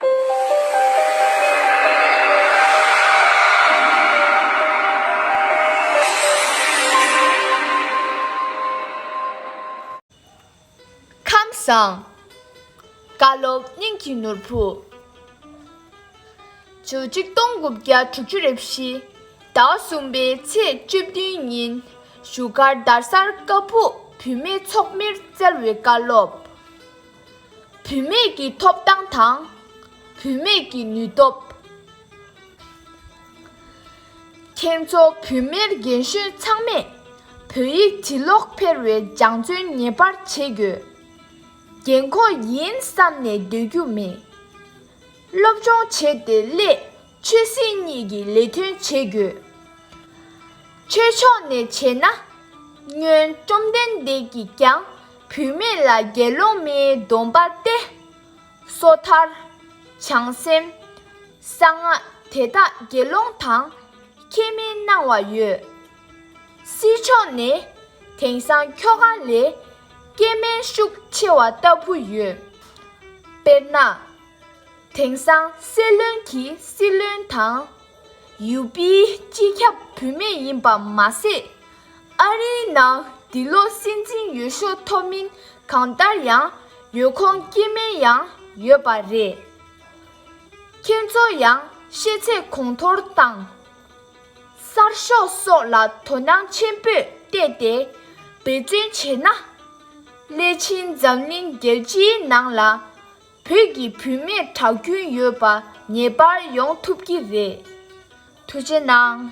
ཁམས་བཟང། བཀའ་སློབ་སྙིང་གི་ནོར་བུ། བཅུ་གཅིག་སྟོང་དགུ་བརྒྱ་དྲུག་ཅུ་རེ་བཞི། ཟླ་བ་གསུམ་པའི་ཚེས་བཅུ་བདུན་ཉིན་བཞུགས་སྒར་དར་སར་ཀ་སྦུག་བུད་མེད་ཚོགས་མིར་བསྩལ་བའི་བཀའ་སློབ། བུད་མེད་ཀྱི་ཐོབ་ཐང་དང། བུད་མེད་ཀྱི་ནུས་སྟོབས། ཁྱེད་ཚོ་བུད་མེད་རྒན་གཞོན་ཚང་མས་བོད་ཡིག་བྱིས་ཀློག་ཕེར་བའི་སྦྱང་བརྩོན་ངེས་པར་བྱེད་དགོས། རྒན་འཁོགས་ཡིན་བསམ་ནས་སྡོད་རྒྱུ་མེད། སློབ་སྦྱོང་བྱས་ཏེ་སླེ། ཆོས་སྲིད་གཉིས་ཀྱི་ལས་དོན་བྱེད་དགོས། ཆོས་ཕྱོགས་ནས་བྱས་ན། སྨྱོན་བཅོམ་ལྡན་འདས་ཀྱིས་ཀྱང་བུད་མེད་ལ་དགེ་སློང་མའི་སྡོམ་པ་སྟེ། སོ་ཐར། བྱང་སེམས། གསང་སྔགས་དེ་དག་དགེ་སློང་དང་ཁྱད་མི་སྣང་བ་ཡོད། སྲིད་ཕྱོགས་ནས་དེང་སང་ཁྱོ་ག་ལས་སྐྱེས་དམན་ཤུགས་ཆེ་བ་ལྟ་བུ་ཡོད། དཔེར་ན། དེང་སང་སྲིད་བློན་གྱི་སྲིད་བློན་དང། ཡུ་པིའི་སྤྱི་ཁྱབ་བུད་མེད་ཡིན་པ་མ་ཟད། ཨ་རིའི་ནང་འདི་ལོ་སྲིད་འཛིན་ཡོད་ཤོག་ཐོབ་མིན་གང་ལྟར་ཡང་ཡོད་ཁོང་སྐྱེས་དམན་ཡང་ཡོད་པ་རེད། ཁྱེད་ཚོ་ཡང་ཤེས་ཚད་གོང་མཐོར་བཏང། གསར་ཤོག་སོགས་ལ་དོ་སྣང་ཆེན་པོས་བལྟས་ཏེ་འབད་བརྩོན་བྱས་ན། སླད་ཕྱིན་འཛམ་གླིང་རྒྱལ་སྤྱིའི་ནང་ལ། བོད་ཀྱི་བུད་མེད་གྲགས་རྒྱུན་ཡོད་པ་ངེས་པར་ཡོང་ཐུབ་ཀྱི་རེད། ཐུགས་ཆེ་གནང།